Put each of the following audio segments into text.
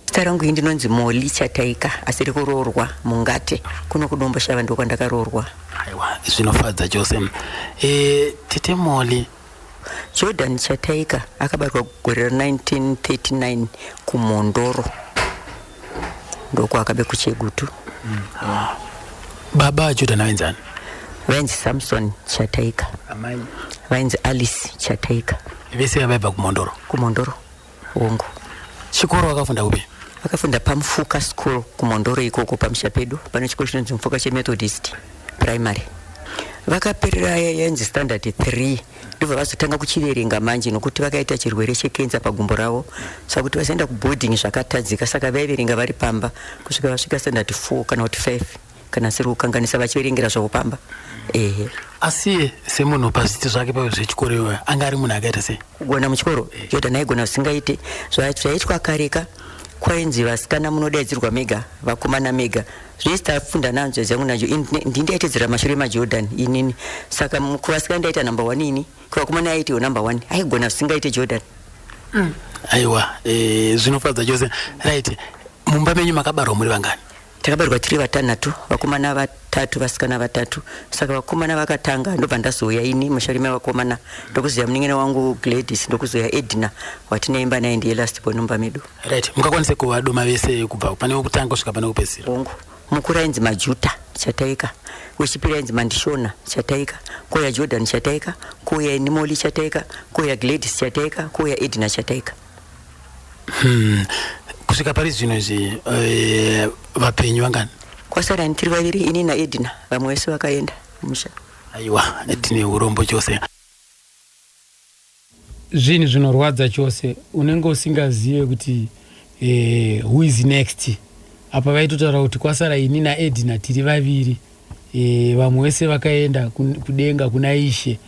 Zita rangu ini ndinonzi Molly Chataika asiri kuroorwa Mungate kuno kuDombo Shava ndiko kwandakaroorwa. Aiwa, zvinofadza chose. Eh, tete Molly. Jordan Chataika akabarwa gore ra 1939 kuMhondoro. Ndoko akabe kuChegutu. Baba Jordan vainzi ani? Vainzi Samson Chataika. Amai. Vainzi Alice Chataika Vese vaibva kuMhondoro. kuMhondoro. Hongu. Chikoro wakafunda kupi? Wakafunda paMfuka School kuMondoro ikoko pamusha pedu pane chikoro chinonzi Mfuka cheMethodist Primary. Vakaperera yenzi standard 3 ndibva vazotanga kuchiverenga manje nokuti vakaita chirwere chekenza pagumbo ravo saka kuti vazoenda kuboarding zvakatadzika saka vaiverenga vari pamba kusvika vasvika standard 4 kana kuti 5. kana siri kukanganisa vachiverengera zvavo pamba ehe asi iye semunhu pazviti zvake pave zvechikoro iyoyo anga ari munhu akaita sei kugona muchikoro jordan aigona zvisingaite zvaitwa kareka kwainzi vasikana munodaidzirwa mega vakomana mega zvese tafunda nanzo zvangu nacho ndi ndaitedzera mashure majordan inini saka kuvasikana ndaita number one ini kuvakomana aitiwo number one aigona zvisingaite jordan mm. aiwa e, zvinofadza chose right mumba menyu makabarwa muri vangani Takabarwa tiri vatanhatu, vakomana vatatu vasikana vatatu. Saka vakomana vakatanga ndobva ndazouya ini mushauri mai vakomana ndokuzoya munin'ina wangu Gladys ndokuzoya Edna watinaimba naye ndiye last born mumba medu. Right, mukakwanisa kuvadoma vese kubva pane wekutanga kusvika pane wekupedzisira? Hongu, mukuru ainzi Majuta Chataika, wechipiri ainzi Mandishona Chataika, kouya Jordan Chataika, kouya ini Molly Chataika, kouya Gladys Chataika, kouya Edna Chataika. Hmm. Kusvika pari zvino izvi eh, vapenyu vangani? Kwasara tiri vaviri ini naEdna vamwe vese vakaenda musha. Aiwa tine urombo chose. Zvinhu zvinorwadza chose unenge usingazive kuti eh, who is next apa vaitotaura kuti kwasara ini naEdna tiri vaviri e, vamwe vese vakaenda kudenga kuna ishe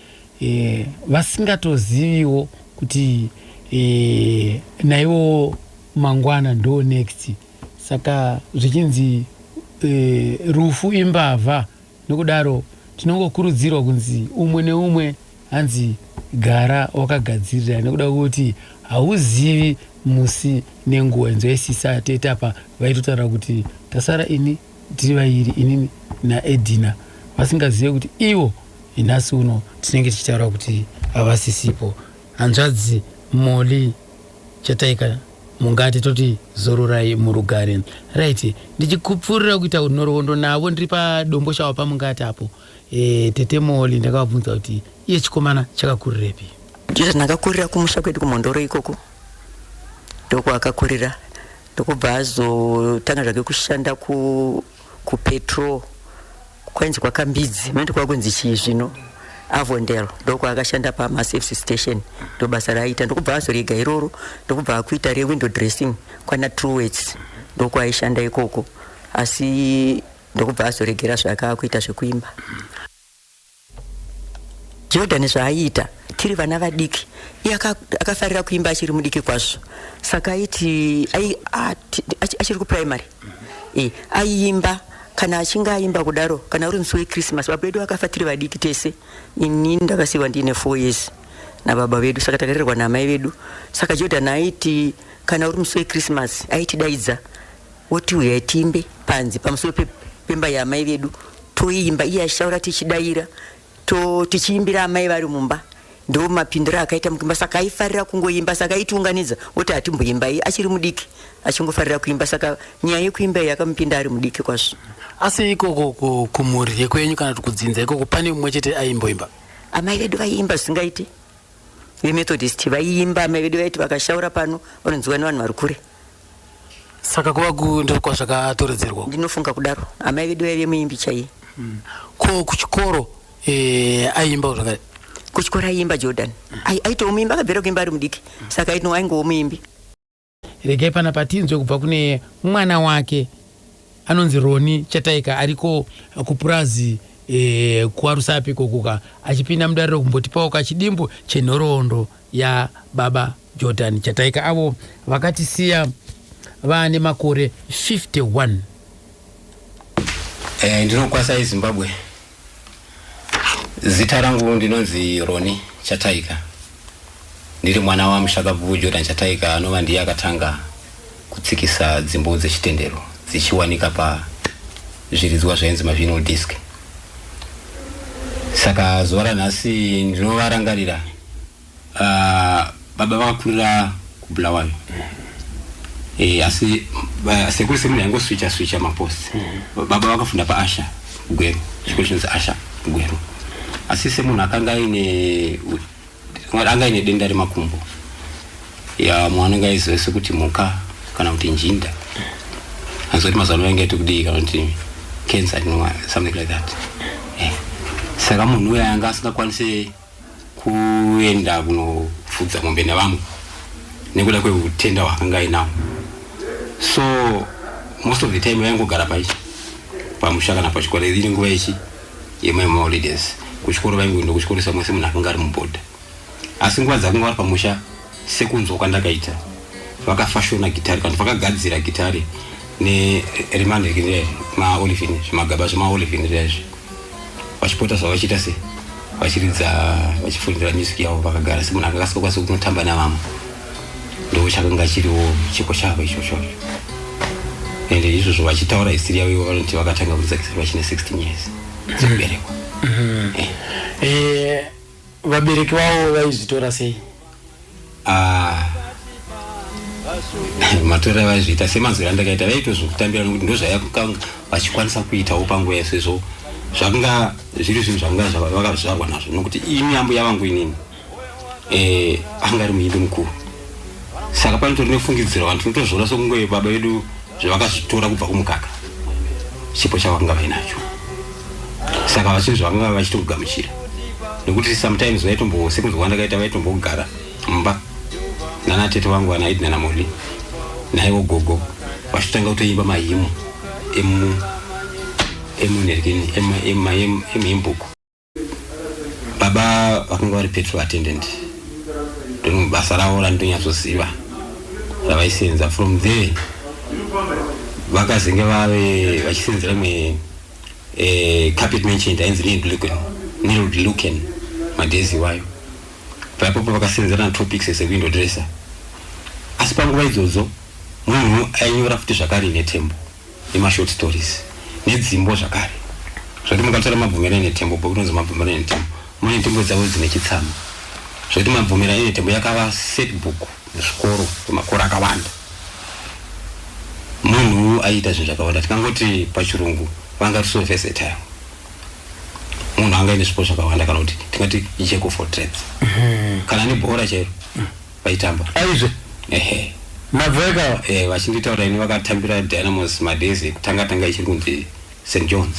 e, vasingatoziviwo kuti e, naivo mangwana ndo next saka zvichinzi e, rufu imbavha nokudaro tinongokurudzirwa kunzi umwe neumwe hanzi gara wakagadzirira nekuda kwekuti hauzivi musi nenguva inzwaisisa tete apa vaitotaura kuti tasara ini tiri vairi inini naedina vasingazive kuti ivo nhasi uno tinenge tichitaura kuti havasisipo hanzvadzi moli chataika mungati toti zororai murugare right ndichikupfuurira kuita nhoroondo navo ndiri padombo shawa pamungati apo e, tete moli ndakavabvunza kuti iye chikomana chakakurirepi jesus ndakakurira kumusha kwedu kumhondoro ikoko ndokwakakurira ndokubva azotanga zvake kushanda ku kupetrol kwainzi kwakambidzi mandi kwakunzi chii zvino avondel ndokwaakashanda pamasafs station ndobasa raaita ndokubva azorega iroro ndokubva akuita rewindow dressing kwana truwets ndokwaaishanda ikoko asi ndokubva azoregera zvaakaakuita zvekuimba Jordan zvaaiita tiri vana vadiki iye akafarira kuimba achiri mudiki kwazvo saka aiti achiri kuprimary e, aiimba kana achinge aimba kudaro kana uri musi wechristmas baba vedu akafa tiri vadiki tese inini ndakasiiwa ndiine four years nababa vedu saka takarerwa naamai vedu saka jordan aiti kana uri musi wechristmas aitidaidza Woti huyai tiimbe panze pamusoro pe, pemba yaamai vedu toiimba iye achitaura tichidaira to tichiimbira amai vari mumba ndo mapindiro akaita mukuimba saka aifarira kungoimba saka aitiunganidza woti hatimboimbai achiri mudiki achingofarira kuimba saka nyaya yekuimba iyi yakamupinda ari mudiki kwazvo asi ikoko kumhuri yekwenyu kana kuti kudzinza ikoko pane mumwe chete aimboimba amai vedu vaiimba zvisingaiti vemethodist vaiimba amai vedu vaiti vakashaura pano vanonziwa nevanhu vari kure saka kuva ku ndiko kwazvakatoredzerwa ndinofunga kudaro amai vedu vaive muimbi chaiye ko kuchikoro eh, aiimbawo zvakare kuchikoro aiimba jordan Ai- aitowo muimbi akabvira kuimba ari mudiki saka aitino aingowo muimbi regai pana patinzwe kubva kune mwana wake anonzi roni chataika ariko kupurazi eh, kuarusapi kokuka achipinda mudariro kumbotipawo kachidimbu chenhoroondo yababa Jordan Chataika avo vakatisiya vaane makore 51. Eh, ndinokwasai Zimbabwe. Zita rangu ndinonzi Roni Chataika. Ndiri mwana wamushakabvu Jordan Chataika anova ndiye akatanga kutsikisa dzimbo dzechitendero dzichiwanika pazviridzwa zvainzi mavinyl disc. Saka zuva ranhasi ndinovarangarira Ah, baba vakakurira kubulawayo eh, asi ba- sekuru semune yangoswicha swicha mapost baba vakafunda paasha gweru chikoro chinonzi asha gweru asi semunhu akanga aine anga aine denda remakumbo ya mwana anga aiziva sekuti mhuka kana kuti njinda azoti mazuva ano yange aiti kudii kana kuti cancer you know, something like that eh. saka munhu uya anga asingakwanise kuenda kunofudza mombe nevamwe nekuda kweutenda hwaakanga ainao so most of the time vaingogara pai pamusha kana pachikoro iri nguva yechi yemaholidays kuchikoro vaingoenda kuchikoro samwese munhu akanga ari mubhodha asi nguva dzakanga vari pamusha sekunzwa kwandakaita vakafashona gitari kana vakagadzira gitari neremanhirikire maolivin zvimagaba zvemaolivin zvaizvo vachipota zvavachiita se vachiridza vachifundira music yavo vakagara semunhu akakasokwanisa kunotamba navamwe ndo chakanga chiriwo chiko chavo ichocho and izvozvo vachitaura histori yavo ivo vanoti vakatanga kuridza gitari vachine 16 years dzekuberekwa mm-hmm. eh. eh, Vabereki vavo vaizvitora sei? Ah. matora vaizviita semanzwira andakaita vaitozokutambira nokuti ndozvayakukanga vachikwanisa kuitawo panguva yaso izvo zvakanga zviri zvinhu zvakanga vakazvarwa nazvo nokuti ini ambo yavangu inini eh, anga ari muimbi mukuru saka panotori nefungidziro vanhu tinotozviona sokunge baba vedu zvavakazvitora kubva kumukaka chipo chavakanga vainacho saka vachinhu zvavakanga vachitokugamuchira nekuti sometimes vaitombo sekunzi kwandakaita vaitombogara mumba nana tete vangu vanaidi nana moni naivo gogo vachitanga kutoimba mahimu emu emunergini emhimbuko baba vakanga vari petrol attendant ndonhu basa ravo randonyatsoziva ravaisenza from there vakazenge vave vachisenzera imwe eh, carpet mentioned ainzi nilduken nilduken madhezi iwayo paipopo vakasenzera natopics as a window dresser asi panguva idzodzo munhu ainyora futi zvakare netembo nemashort stories nedzimbo zvakare zvekuti mukatora mabvumira enetembo bhuku rinonzi mabvumira enetembo mune ntembo dzavo dzine chitsama zvekuti mabvumira enetembo yakava set book muzvikoro kwemakore akawanda munhu aiita zvinhu zvakawanda tikangoti pachirungu vanga tiso versatile munhu anga ine zvipo zvakawanda kana kuti tingati jack of all trades mhm. kana nebhora chairo vaitamba aizve ehe maveka eh, vachinditaura ini vakatambira dynamos madays ekutanga tanga ichiri kunzi st johns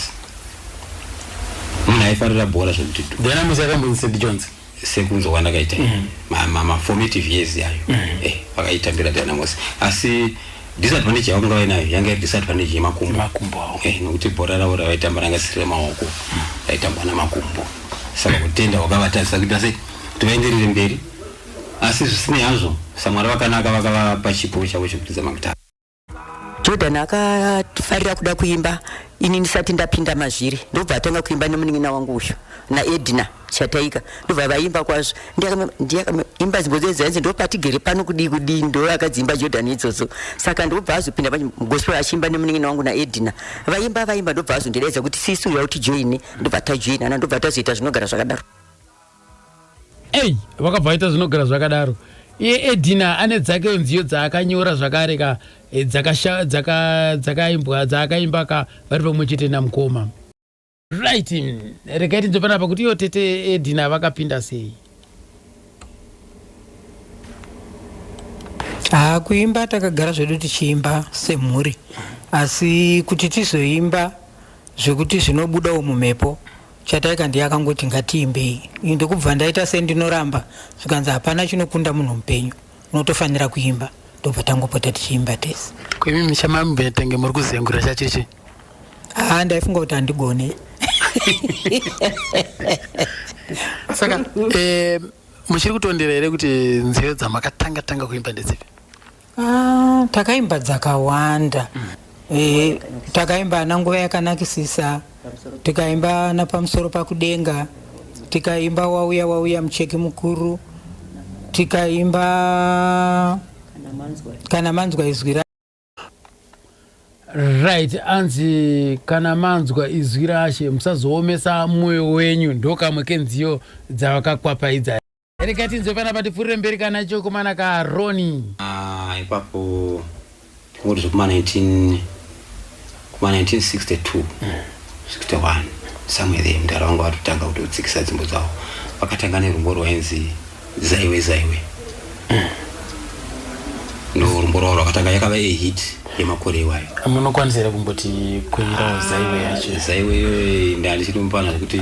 munhu aifarira bhora zvekuti du dynamos yakambonzi st johns sekunzwa kwandakaita ma- ma- maformative years yayo eh, vakaitambira dynamos asi disadvantage yavanga vainayo yanga iri disadvantage yemakumbo makumbo awo Eh, nokuti bhora ravo ravaitamba ranga siri remaoko raitambwa namakumbo saka kutenda wakavatarisa kuita sei kuti vaenderere mberi Asi zvisinei hazvo, saMwari vakanaka, vakavapa chipo chavo chekuridza magitare. Jordan akafarira kuda kuimba ini ndisati ndapinda mazviri ndobva atanga kuimba nemunin'ina wangu uyu naedina chataika ndobva vaimba kwazvo ndiakaimba zimbo dzenzi hanzi ndopatigere pano kudii kudii ndo akadziimba jordan idzodzo saka ndobva azopinda mugospel achiimba nemunin'ina wangu naedina vaimba vaimba ndobva azondidaidza kuti sisi uya utijoine ndobva tajoinana ndobva tazoita zvinogara zvakadaro Ey, vakabva vaita zvinogara zvakadaro iye edina ane dzake nziyo dzaakanyora zvakare ka eh, dzakasha- dzaka- dzakaimbwa dzaakaimba ka vari pamwe chete namukoma right mm, regai tinzwe panapa kuti iyo tete edina vakapinda sei haa kuimba takagara zvedu tichiimba semhuri asi kuti tizoimba zvekuti zvinobudawo mumhepo Chataika ndiye akangoti ngatiimbei ini ndokubva ndaita sendinoramba zvikanzi hapana chinokunda munhu mupenyu unotofanira kuimba ndobva tangopota tichiimba tese kwimi michamamubetenge muri kuzengura chachiri chii haa ndaifunga kuti handigone saka eh, muchiri kutondera here kuti nziyo dzamakatanga tanga kuimba ndedzipi Ah, takaimba dzakawanda mm. e, takaimba ana nguva yakanakisisa tikaimba ana pamusoro pakudenga tikaimba wauya wauya mucheki mukuru tikaimba kana manzwa izwi ra right anzi kana manzwa izwi rashe musazoomesa mwoyo wenyu ndokamwe kenziyo dzavakakwapaidza rega tinzwe pana patipfuurire mberi kana chokomana kaaroni Ah, ipapo tingoti zvekuma 19 kuma 1962 61 somewhere there mdara wangu vatotanga kutotsikisa dzimbo dzavo vakatanga nerumbo rwainzi zaiwe zaiwe ndo rumbo rwavo rwakatanga yakava ehit yemakore iwayo munokwanisa here kumboti kuimba zaiwe yacho zaiwe iyoyo ndandichiri mupana zvekuti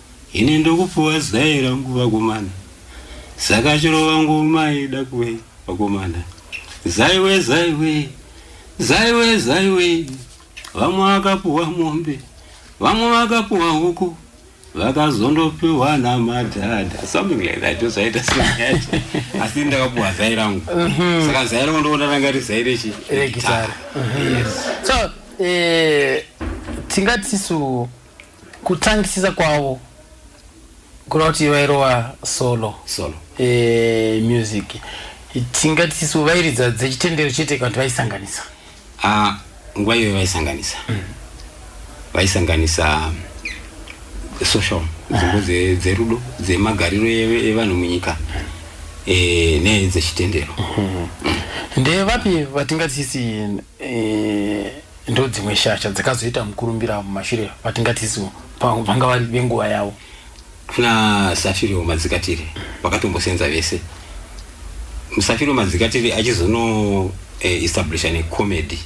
Ini ndokupuwa zai rangu vakomana saka chirova ngoma ida kuve vakomana zaiwe zaiwe zaiwe zaiwe vamwe vakapuwa mombe vamwe vakapuwa huku vakazondopiwa namadhadha something like that zvaita seyacho asi ndakapuwa zai rangu mhm. saka zai rangu ndoona ranga rizai rechi regitara mhm. so eh, tingatisu Kutangisisa kwavo kureva kuti vairova solo solo eh, music tingati tisu vairidza dzechitendero chete kana kuti vaisanganisa ah, nguva iyoyo vaisanganisa mm. vaisanganisa social nzvimbo ah. dzerudo dzemagariro evanhu munyika eh, nedzechitendero mm-hmm. ndevapi vatingatisisi eh, ndodzimwe shasha dzakazoita mukurumbira mumashure vatingatiziwo vanga vari venguva yavo kuna safirio madzikatiri vakatombosenza vese musafirio madzikatiri achizono eh, establisha necomedy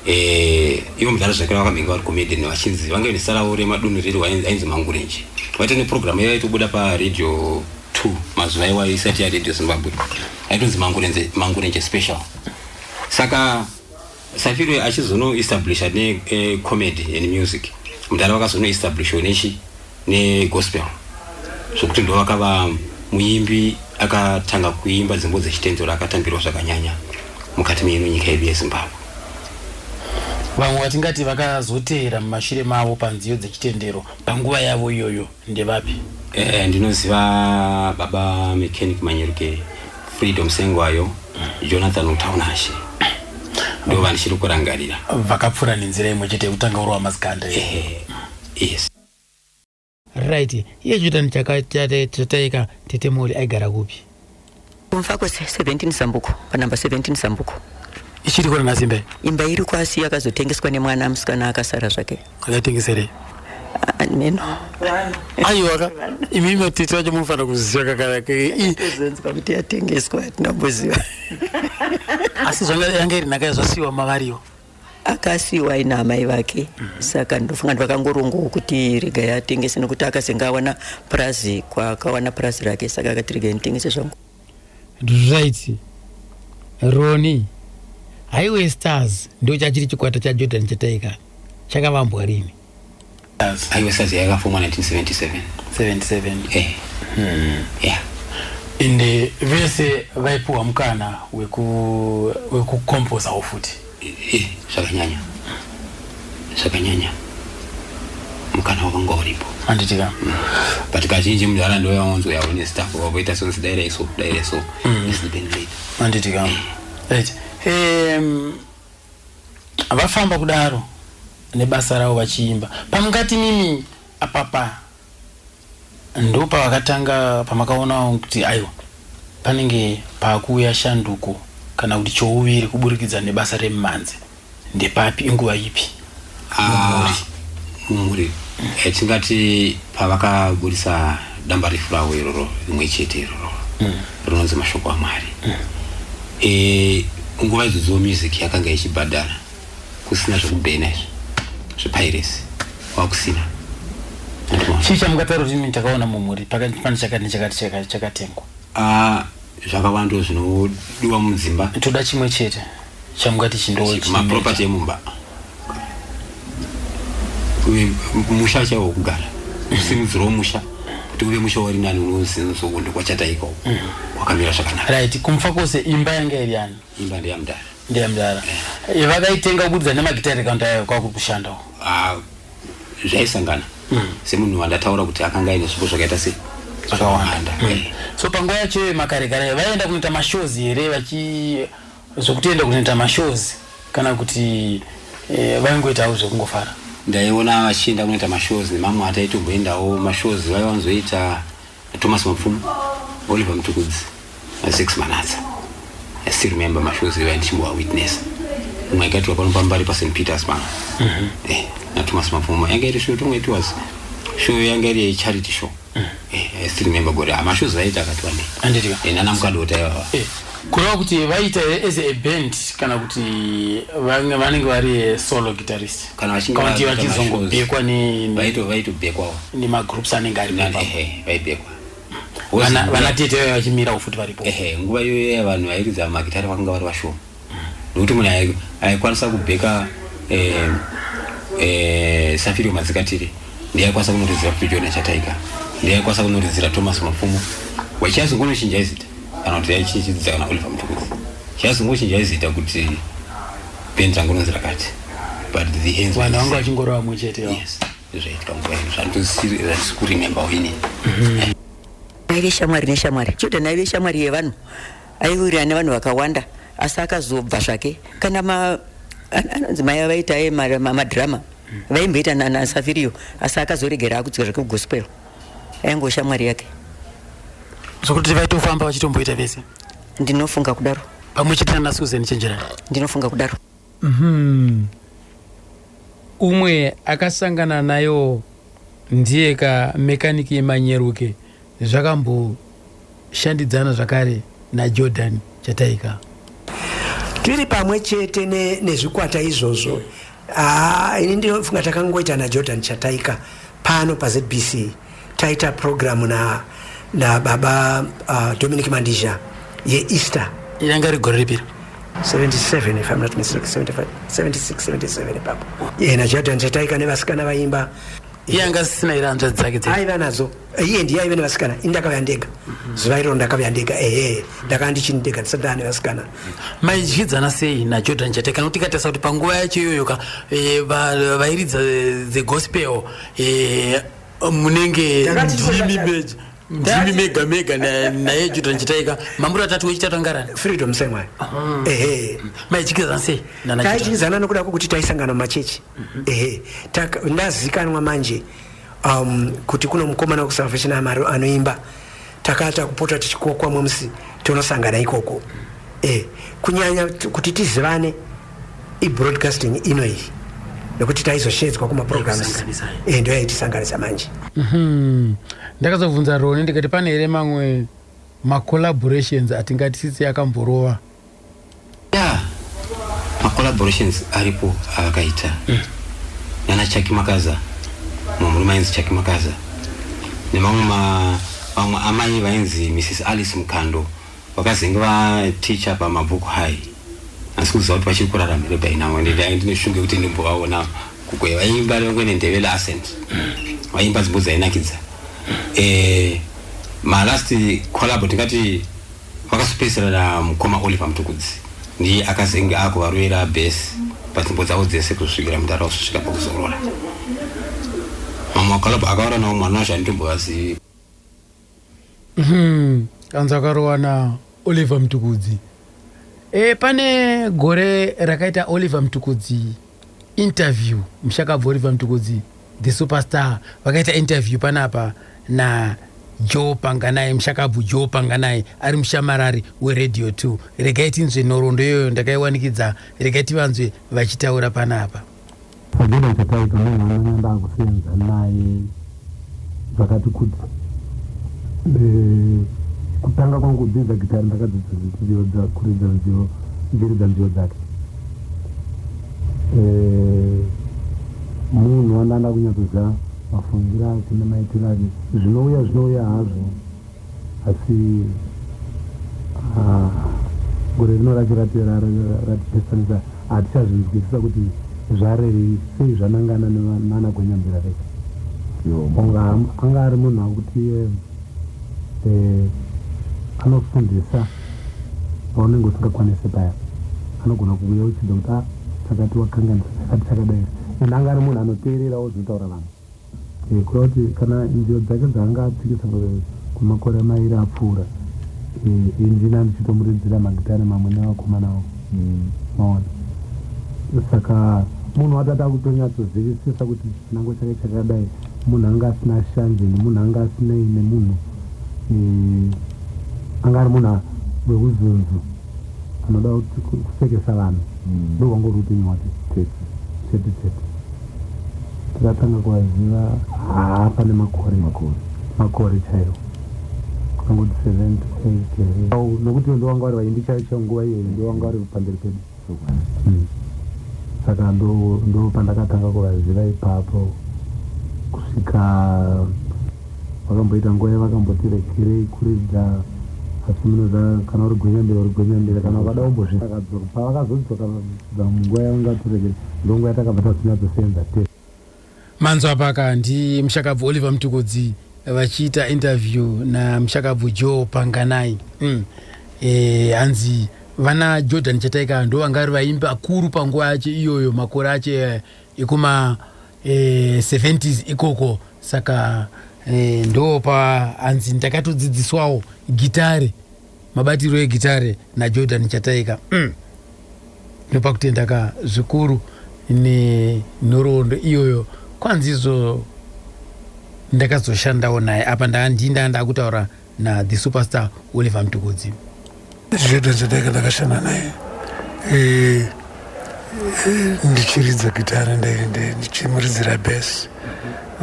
eh, ivo mudhara zvakare vakambenge vari comedy nevachinzi vange nesarawo remadunhu riri ainzi mangurenje vaita neprogram yaiva itobuda paradio two mazuva iwayo isati yaradio zimbabwe aitonzi mangurenje special saka Safiro achizono establisha ne eh, comedy and music mudhara vakazono establisha nechi ne gospel zvokuti ndo vakava muimbi akatanga kuimba dzimbo dzechitendero akatambirwa zvakanyanya mukati meino nyika yedu yezimbabwe Vamwe vatingati vakazoteera mumashure mavo panziyo dzechitendero panguva yavo iyoyo. Ndevapi? Eh, ndinoziva baba mechanic Manyeruke, Freedom Sengwayo, Jonathan Utaunashe. Ndivo vandichiri kurangarira. Vakapfura nenzira imwe chete yekutanga uri wamazikanda. Eh, yes. Right. Iye Jonathan chaka chate chataika Tete Moli aigara kupi? kumva kwese 17 zambuko panumber 17 zambuko ichiri kona nhasi imba iyi imba iri kwasi yakazotengeswa nemwana musikana akasara zvake akaitengeserei Ah, neno aiwaka imi matiti vacho munofanira kuziva kakaraka kuzonzwa kuti yatengeswa hatina kumboziva asi zvanga yanga iri nhaka yazvasiwa mavariwo akasiiwa aina amai vake mm -hmm. saka ndofunga ndvakangorongawo kuti regai atengese nekuti akazenge awana purazi kwaakawana purazi rake saka akati regai nditengese zvangu right roni highway stars ndochachiri chikwata chajordan chataika chakavambwa rini aiwa sazi yakafomwa 1977 77 eh hmm. yeah and eh, vese vaipiwa mukana wekukompozawo weku futi eh, zvakanyanya zvakanyanya mukana wakanga uripo anditika mm. but kazhinji munhu ara ndovaya wanzwa yavo nestaff vavoita sonse daira iso daira iso mm. anditika eh. right um, Vafamba kudaro nebasa ravo vachiimba. Pamungati mimi apapa ndopavakatanga pamakaona kuti aiwa panenge pakuuya shanduko kana kuti chouviri kuburikidza nebasa remimhanzi ndepapi inguva ipi. Ah, mumhuri Eh, tingati pavakaburitsa damba refu ravo iroro rimwe chete iroro rinonzi mashoko amwari Eh, nguva idzodzo music yakanga ichibhadhara kusina zvekubhena izvi zvepiracy kwakusina chii chamukataura kuti imi takaona mumhuri pakati pane chakati nechakati chaka- chakatengwa Ah, zvakawanda zvinodiwa mudzimba toda chimwe chete chamungati chindomaproperty emumba musha chaiwo wokugara kusimudzira womusha kuti uve musha wari nani unozinusowo ndokwachata ikoko mm. kwakamira zvakanaka right kumfa kwose imba yanga iri yani imba ndeyamudhara ndeyamudhara eh. eh, vakaitenga kubudza nemagitare kandayo kwakukushanda ah, zvaisangana mm. semunhu wandataura kuti akanga aine zvipo zvakaita sei zvakawanda mm. Eh. so panguva yacho yemakarekare vaienda kunoita mashows here vachi zvekutoenda kunoita mashows kana kuti eh, vaingoitawo zvekungofara ndaiona vachienda kunoita mashows nemamwe ataitomboendawo mashows vaivanzoita Thomas Mapfumo, Oliver Mtukudzi, Six Manatsa. I still remember mashows iwayo ndichimbowa witness. Umwe akaitwa pano pambari paSt Peters pano. Mm -hmm. Eh, na Thomas Mapfumo. Yanga iri show tongo it was show yanga iri charity show. Mm -hmm. Eh, I still remember gore. Amashows ah, aita akatwa ndi. Andiriwa. Eh, nana mukadota iwawa. Eh. Kureva kuti vaita as a band kana kuti vanenge vari solo guitarist. kana vachinge County vakuita mashows, vachizongobhekwa ne- ne- vaito- vaitobhekwawo nemagroups anenge ari Nani, papa ehe, vaibhekwa Wozi Vana- nguva- vana tete vaiva vachimirawo futi varipo ehe, nguva iyoyo ya vanhu vairidza magitare vakanga vari vashoma nokuti munhu ai- aikwanisa kubheka eh, eh, safirio madzikatire ndiye aikwanisa kunoridzira kuti jona chataiga ndiye aikwanisa kunoridzira thomas mapfumo wachiazongonochinja izita kana kuti yaichichidzidza kana oliver mutukudzi chiazongochinja izita kuti Benz rangu rinonzi rakati but the hands were vanhu vanga the same. vachingorova mwe chete yo Yes, zvaitika nguva ino zvandisiri zvandisi kurememba wini aive shamwari neshamwari jordan aive shamwari yevanhu aiwirirana nevanhu vakawanda asi akazobva zvake kana ma an- anonzi mai avaita aye ma- ma- madhirama vaimboita na- nasafiriyo asi akazoregera akudzika zvake kugospel aingoshamwari yake zvokuti vaitofamba vachitomboita vese ndinofunga kudaro pamwe chete nana susan chenjerani ndinofunga kudaro mm-hmm. umwe akasangana nayo ndiye ka mekaniki yemanyeruke zvakamboshandidzana zvakare najordan chataika tiri pamwe chete nezvikwata ne izvozvo Haa ah, ini ndinofunga takangoita naJordan Chataika pano paZBC taita program na nababa uh, Dominic Mandizha yeEaster yanga rigore ripira 77 if I'm not mistaken 75 76 77 ipapo yena Jordan Chataika nevasikana vaimba yanga sisina ira hanzvadzi dzake dzaiva nadzo iye ndiye aive nevasikana ini ndakauya ndega zuva iroro ndakauya ndega ehe ndakava ndichini ndega ndisati ndava nevasikana maidyidzana sei najordan chate kana kuti ikatarisa kuti panguva yacho iyoyo ka eh, va- vairidza eh, the gospel eh, munenge Takati ndimi tozodakara. meja ndimi mega mega na- naye jordan chitaika mambura atatu wechitatu angarani freedom semwayo ehe maidyidzana sei nana Jordan? taidyidzana nokuda kwokuti taisangana mumachechi ehe taka- ndazikanwa manje um, kuti kuno mukomana kusalvation amari anoimba takata kupota tichikokwa mumsi tonosangana ikoko e, kunyanya kuti tizivane ibroadcasting ino iyi nekuti taizoshedzwa kumaprograms e, ndo yaitisanganisa manje mhm. ndakazobvunza roni ndikati pane here mamwe macollaborations atingatisisi akamborova Yeah. Ma collaborations aripo avakaita mm. nana Chaki Makaza, mumwe mainzi Chaki Makaza nemamwe ma vamwe amai vainzi Mrs Alice Mukando vakazenge vaticha pamabhuku hai asi kuziva kuti vachiri kurarama here by now and ndai ndine shungu yekuti ndimbovaona kukwe vaimba vangwe nendevela ascent vaimba dzimbo dzainakidza eh, malast collabo tingati Vakazopedzisira na mukoma Oliver Mtukudzi ndiye akazenge akuvarovera bass panzvimbo dzavo dzese kuzosvikira mudhara kusvika pakuzorora. Mamwe makalabha akaora nawo mwana wacho handitombovazivi. Umm kanzi akarowa na Oliver Mtukudzi. E, pane gore rakaita Oliver Mtukudzi Interview mushakabvoriva mtukudzi the superstar vakaita interview panapa na Joe Panganai mushakabvu Joe Panganai ari mushamarari weradio 2 regai tinzwe nhoroondo iyoyo ndakaiwanikidza regai tivanzwe vachitaura panapa. Pagona chataita munhu anonyamba akusenza naye zvakati kuti kutanga kwangu kudzidza gitari ndakadzidzisa nziyo dzakuridza nziyo mbiri dzanziyo dzake eh, munhu wandanda kunyatsoziva mafungiro ake nemaitiro ake zvinouya zvinouya hazvo asi ah, gore rino racho ratipesanisa hatichazvinzwisisa kuti zvarei sei zvanangana nana gwenyambira vese anga ari munhu akuti eh, eh, anofundisa paunenge usingakwanise paya anogona kuuya uchidza kuti ah, chakati wakanganisa chakati chakadai munhu anga ari munhu anoteererawo zvinotaura vanhu Kureva kuti kana nzira dzake dzaanga atsikisa kwemakore mairi apfuura, ini ndini andichitomuridzira magitare mamwe nevakomana avo. Mm. Maona? Saka munhu watata akutonyatsozivisisa kuti chinango chake chakadai munhu anga asina shanje nemunhu anga asinei nemunhu e, anga ari munhu wekuzunzu anoda kusekesa vanhu mm. ndo hwangu uri upenyu hwake tete tete tete tikatanga kuvaziva haa pane makore makore makore chaiwo angoti seventy eight here au nokuti ndo wanga wari vaindi chaicho nguva iyoyo ndo wanga wari pamberi pedu hmm. saka ndo ndo pandakatanga kuvaziva ipapo kusvika Vakamboita nguva yavakamboti regerei kuridza asi munoziva kana uri gwenyambira uri gwenyambira kana ukada kumbozviakadzoka pavakazodzoka vakudza munguva yavangati regere ndonguva yatakabva tazonyatsosenza tese manzwa apaka ndimushakabvu oliver mtukudzi vachiita interview namushakabvu joe panganai mm. e, hanzi vana jordan chataika ndo vangari vaimbi akuru panguva yacho iyoyo makore acho eh, ekuma eh, 70s ikoko saka eh, ndo paanzi ndakatodzidziswawo gitare mabatiro egitare najordan chataika mm. ndopakutenda ka zvikuru nenhoroondo iyoyo kwanzi izvo ndakazoshandawo naye apa ndaandii ndaa ndakutaura na the superstar oliver mtukudzi zvedu zvedaka ndakashanda naye eh, eh, ndichiridza gitare ndichimuridzira bes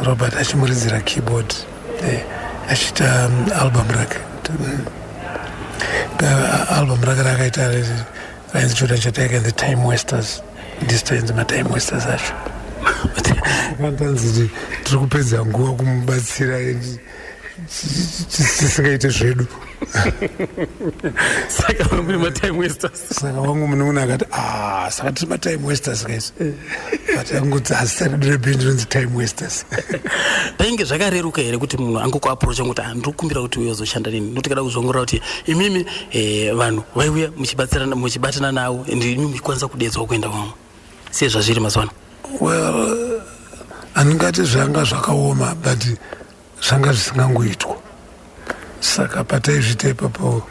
robert achimuridzira keyboard eh, achiita um, album rake album rake rakaita rainzi choda chatake the time westers ndistoinzi matime westers acho akantanzi tiri kupedza nguva kumubatsira tisingaite zvedu saka vangu mune matime westers saka wangu munoona akati ah, saka tiri matime westers guys but angoti hazita redu rebhindu rinonzi time westers painge zvakareruka here kuti munhu angokuaprocha ngokuti ah, ndiri kukumbira kuti uye uzoshanda nini nokuti kada kuzongorora kuti imimi eh, vanhu vaiuya muchibatana navo and imimi kwanisa kudedzwa kuenda kwamwe sezvazviri mazuva ano well handingati zvanga zvakaoma but zvanga zvisingangoitwa saka pataizvita ipapo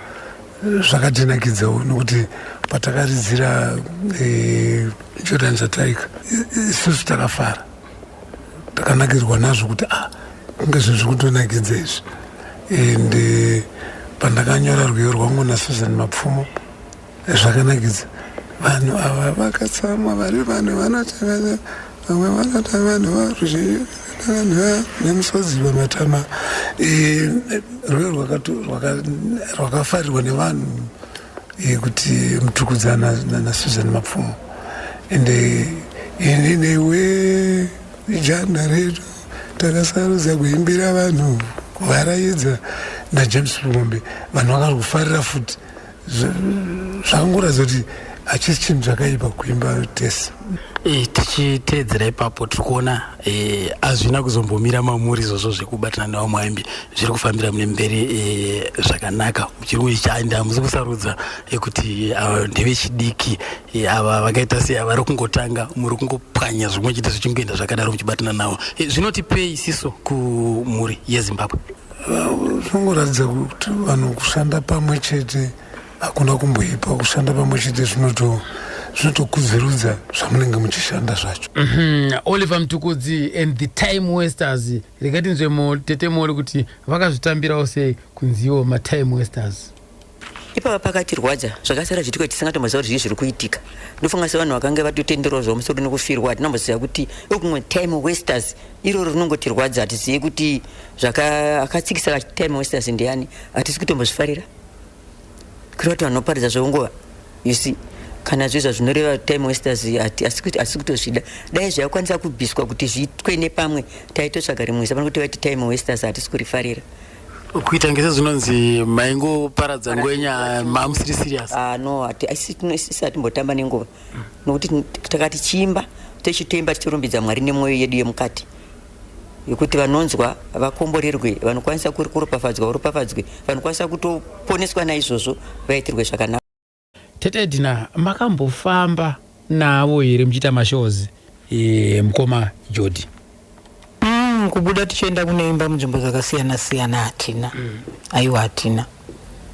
zvakatinakidzawo nokuti patakaridzira eh, jordan zataika isusu takafara takanakirwa nazvo kuti ah kunge zvinhu zviri kutonakidza izvi and eh, pandakanyora rwiyo rwangu nasusan mapfumo zvakanakidza vanhu ava vakatsamwa vari vanhu vanotevera vamwe vanota vanhu varuzhivanhu nemusodzi vematama eh, rwero rwakafarirwa nevanhu eh, kuti mutukudzana nasusan mapfumo ende eh, ini newe ijana redu takasarudza kuimbira vanhu kuvaraidza najames rumombe vanhu vakari kufarira futi zvakangoratidza kuti hachisi chinhu chakaipa kuimba tese e, tichiteedzera ipapo tiri kuona e, hazvina e, kuzombomira mamuri izvozvo zvekubatana nevamwe aimbi zviri kufambira mune mberi e, zvakanaka muchirungu ichi ande hamusi kusarudza ekuti ava ndevechidiki e, ava vakaita sei ava ri kungotanga muri kungopwanya zvimwe chiti zvichingoenda zvakadaro muchibatana navo e, zvinotipei siso kumhuri yezimbabwe zvinongoratidza kuti vanhu kushanda pamwe chete hakuna kumboipa kushanda pamwe chete zvinoto zvinotokudzirudza zvamunenge muchishanda zvacho mm -hmm. oliver mtukudzi and the time westers rekatinzwe tete mori kuti vakazvitambirawo sei kunziwo matime westers ipava pakatirwadza zvakasara zviitiko tisingatomboziva kuti zvii zviri kuitika ndofunga sevanhu vakange vatotenderawo zvamusoro nekufirwa hatinamboziva kuti ekumwe time wasters iroro rinongotirwadza hatizive kuti akatsikisa time wasters ndiyani hatisi kutombozvifarira kuti vati vanhu vaparidza zveunguva you see kana zvezva zvinoreva time wasters asi kutozvida dai zvaikwanisa kubviswa kuti zviitwe nepamwe taitotsvaga rimwe zava kuti vaiti time wasters hatisi kurifarira kuita ngese zvinonzi maingoparadza ngwenya mamusiri serious ah no isi hatimbotamba nenguva nokuti takati chimba techitemba tichirumbidza mwari nemwoyo yedu yemukati yekuti vanonzwa vakomborerwe vanokwanisa kuropafadzwa varopafadzwe vanokwanisa kutoponeswa naizvozvo vaitirwe zvakanaka Tete Edna makambofamba navo here muchiita mashows e, mukoma Jodi? Mm, kubuda tichienda kunoimba munzvimbo dzakasiyana siyana hatina mm. aiwa hatina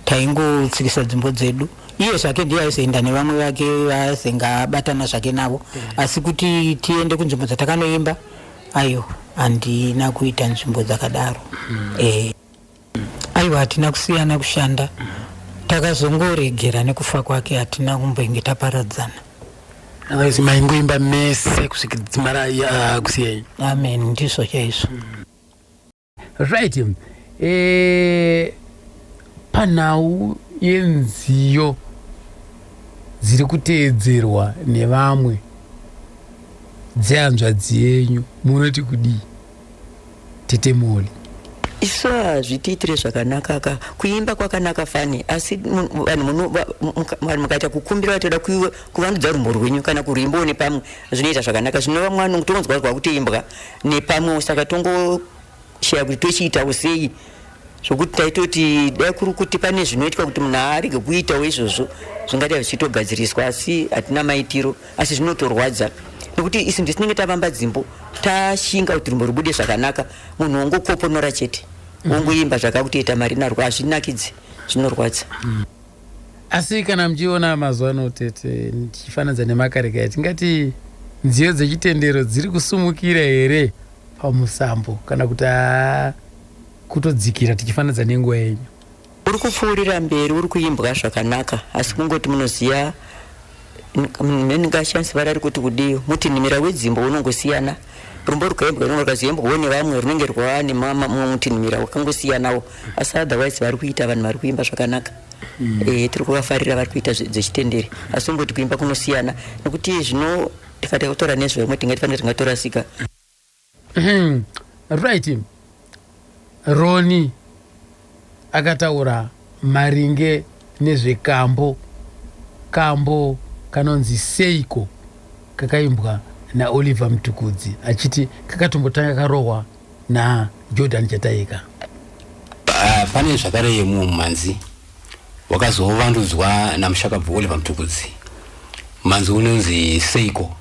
taingotsikisa dzimbo dzedu iye zvake ndiye aizoenda nevamwe vake vaaizoinge abatana zvake navo mm. asi kuti tiende kunzvimbo dzatakanoimba aiwa handina kuita nzvimbo dzakadaro mm. e. Aiwa hatina kusiyana kushanda takazongoregera nekufa kwake hatina kumbenge taparadzana. Otherwise maingoimba mese kusvika dzimara uh, kusiyai. Amen ndizvo chaizvo. Right. Eh panhau yenziyo dziri kuteedzerwa nevamwe dzehanzvadzi yenyu munoti kudii? tete moli isu hazvitiitire zvakanaka ka kuimba kwakanaka fani asi vanhu mukaita kukumbira vatoda kuvandudza rumbo rwenyu kana kurwimbawo nepamwe zvinoita zvakanaka zvinova mwana kutongonzwa kwakutoimbwa nepamwewo saka tongosheya kuti tochiitawo sei Zvekuti taitoti dai kuri kuti pane zvinoitwa kuti munhu arege kuitawo izvozvo zvingadai zvichitogadziriswa asi hatina maitiro asi zvinotorwadza nekuti isu ndisinenge tavamba dzimbo tashinga kuti rumbo rubude zvakanaka munhu wongokoponora chete mhm. wongoimba zvakakutiita mari narwo hazvinakidzi zvinorwadza mm. asi kana muchiona mazuva ano tete ndichifananidza nemakareka tingati nziyo dzechitendero dziri kusumukira here pamusambo kana kuti haa kutodzikira tichifanidza nenguva yenyu uri kupfuurira mberi uri kuimbwa zvakanaka asi kungoti munoziva ndingashandisa vara ri kuti kudii muti nhimira wedzimbo unongosiyana rumbo rukaimbwa runenge rwakazoimbwawo nevamwe runenge rwava nemumwe mutinhimira wakangosiyanawo asi otherwise vari kuita vanhu vari kuimba zvakanaka mm. e, tiri kuvafarira vari kuita dzechitenderi asi kungoti kuimba kunosiyana nekuti zvino tikati kutora nezvevamwe tingati fanira tingatorasika Umm right Ronnie akataura maringe nezvekambo kambo kanonzi seiko kakaimbwa naOliver Mtukudzi achiti kakatombotanga karohwa naJordan Chataika. Ah, pane zvakare mumwe mumhanzi wakazovandudzwa namushakabvu Oliver Mtukudzi. Mhanzi unonzi Seiko.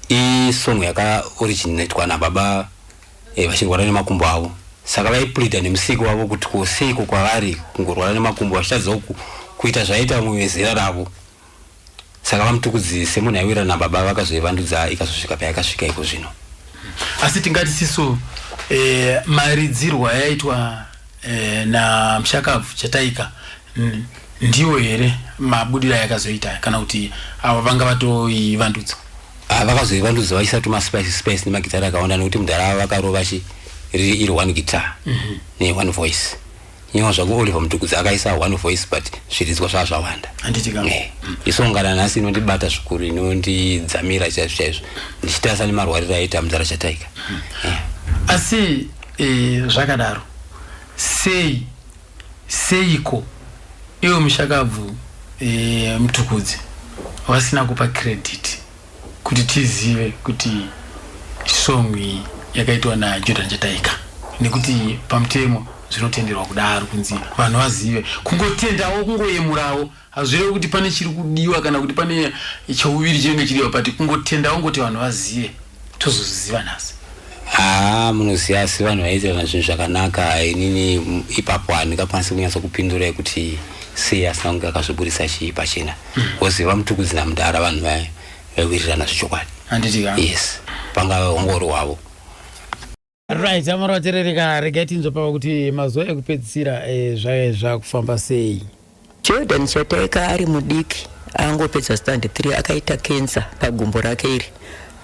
i song yaka originatwa na baba eh, vachirwara nemakumbo avo saka vaipleader nemusiki wavo kuti ko seiko kwavari kungorwara nemakumbo vachitadzawo ku, kuita zvaiita vamwe vezera ravo saka vamutukudzi semunhu aiwira nababa vakazoivandudza ikazosvika payakasvika iko zvino asi tingati siso eh, maridzirwo ayaitwa eh, namushakabvu chataika ndiwo here mabudiro ayakazoita kana kuti avo vanga vatoivandudza ah, vakazoivandudza vaisa tuma spice spice nemagitari akawanda nekuti mudhara avo vakarova chi riri iri one guitar mm -hmm. ne one voice nyewa zvako oliver mutukudzi akaisa one voice but zviridzwa zvaa zvawanda eh, mm. isongana nhasi inondibata zvikuru inondidzamira chaizvo chaizvo ndichitarisa nemarwariro aita mudhara chataika mm. eh. asi E, zvakadaro sei seiko iwe mushakabvu e, mtukudzi vasina kupa credit kuti tizive kuti song iyi yakaitwa najordan chataika nekuti pamutemo zvinotenderwa kudaro kunzi vanhu vazive kungotendawo kungoyemurawo Hazvirevi kuti pane chiri kudiwa kana kuti pane chouviri chinenge chidiwa but kungotenda wongoti vanhu vazive tozozviziva nhasi. Haa munoziva asi vanhu vaiitirana zvinhu zvakanaka inini ipapo handingakwanisi kunyatsa kupindurai kuti sei asina kunge akazviburitsa chii pachena woziva hmm. mutukudzi namudhara vanhu vaya vaiwirirana zvechokwadi yes pangava hongoro hwavo right amara vaterereka regai tinzopava kuti mazuva ekupedzisira eh, zvave zvakufamba sei jordan chataika ari mudiki angopedza stand 3 akaita kensa pagumbo rake iri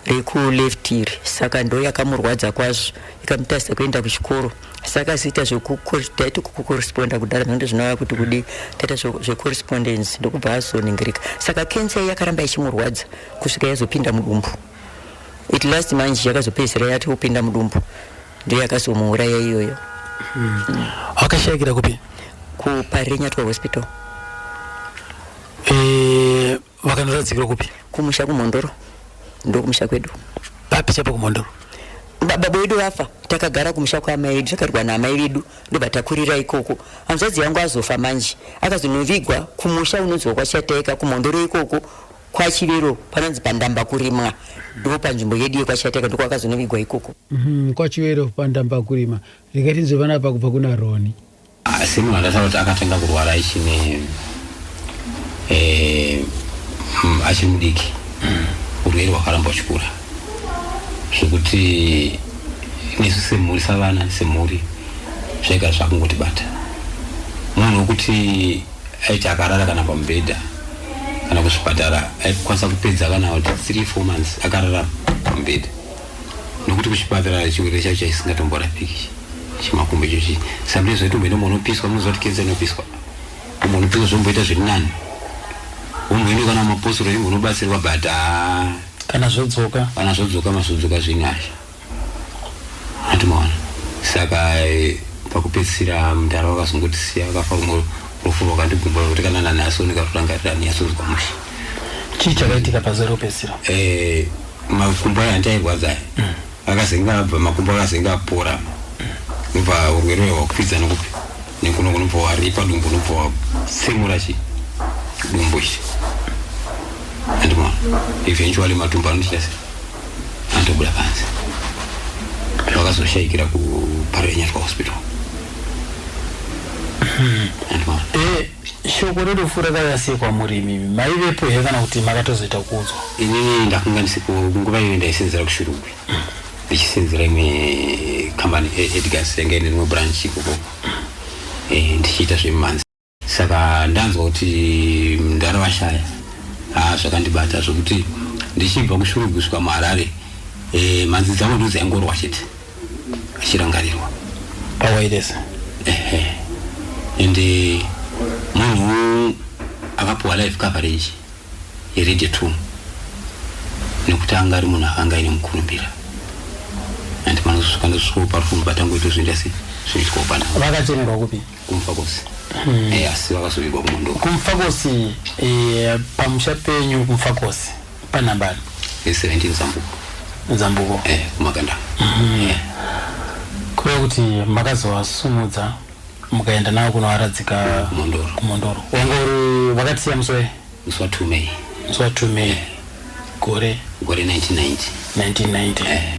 rekuleft iri saka ndo yakamurwadza kwazvo ikamutasa kuenda kuchikoro saka ziita zvekutaiti kukoresponda kudhara zvange zvinova kuti kudi taita zvecorrespondence ndokubva azoningirika saka kensa iyi yakaramba ichimurwadza kusvika yazopinda mudumbu It last manje yakazopedzisira yati kupinda mudumbu ndiyo yakazomuuraya iyoyo. Hmm. Wakashayikira kupi? KuParirenyatwa Hospital. Eh, vakanoradzikira kupi? Kumusha kuMhondoro. Ndokumusha kwedu. Papi chapa kuMhondoro? baba vedu vafa takagara kumusha kwaamai vedu takarwa naamai vedu ndobva takurira ikoko hanzvadzi yangu azofa manje akazonovigwa kumusha unonzwa kwachataika kumhondoro ikoko KwaChivero panonzi pandamba kurimwa ndipo panzvimbo yedu yekwaChateka ndiko akazonovigwa ikoko. Umm kwaChivero pandamba kurima rega tinzwe vana apa kubva kuna Roni. Asi munhu andataura kuti akatanga kurwara ichine eh, mm, achiri mudiki urwere hwakaramba uchikura zvekuti nesu semhuri savana semhuri zvega zvakungotibata munhu wekuti aiti akarara kana pamubhedha kana kuzvipatara aikwanisa kupedza kana kuti three four months akarara pamubhedha nokuti kuchipatara chirwere chacho chaisingatomborapiki chimakumbo ichochi sometimes waitomboenda umwe unopiswa munoziva kuti kenza inopiswa umwe unopiswa zvomboita zviri nani umboenda kana maposoro imwe unobatsirwa but kana zvodzoka kana zvodzoka mazvodzoka zvinhu azvo andimaona saka eh, pakupedzisira mdara vakazongotisiya vakafa rumwe rufu rwakandigumba kuti kana nanhasi ndikatorangarira ndinyasonzwa mushe chii chakaitika pazuva rekupedzisira eh, makumbo aya andairwadza aya mm. akazenge abva makumbo akazenge apora nobva urwere uya hwakwidza nokupi nekuno kunobva waripa dumbu unobva watsemura chi dumbu ichi andimona eventually matumbu anotichasei andobuda panze vakazoshaikira kuparenyatwa hospital hmm. eh, shoko rerufu rakavasekwa murimi maivepo here kana kuti makatozoita kuudzwa inini ndakunga ndisipo nguva iyo ndaisenzera kushurugwi hmm. ndichisenzera imwe kambani eh, edgars yanga ine rimwe branch ikoko eh, ndichiita zvemumhanzi saka ndanzwa kuti mdara vashaya haa zvakandibata zvokuti ndichibva kushuruguswa muharare e, mhanzi dzangu ndo dzaingorwa chete achirangarirwa pawairesa ehe ende munhu akapuwa life coverage yerede two nekuti anga ari munhu akanga aine mukurumbira and manozosvika ndosvikawo pari kunobata ngoito zvinda se zvinoitwawo panavo vakachemerwa kupi kumfakosi hmm. eh, asi vakazovigwa kumondo kumfakosi eh, pamusha penyu kumfakosi panhambani 17 zambuko zambuko kumakanda hmm. kureva kuti makazovasumudza mukaenda navo kunovaradzika kumondoro wanga uri vakatisiya musi wai musi wa two may musi wa two may gore gore 1990 1990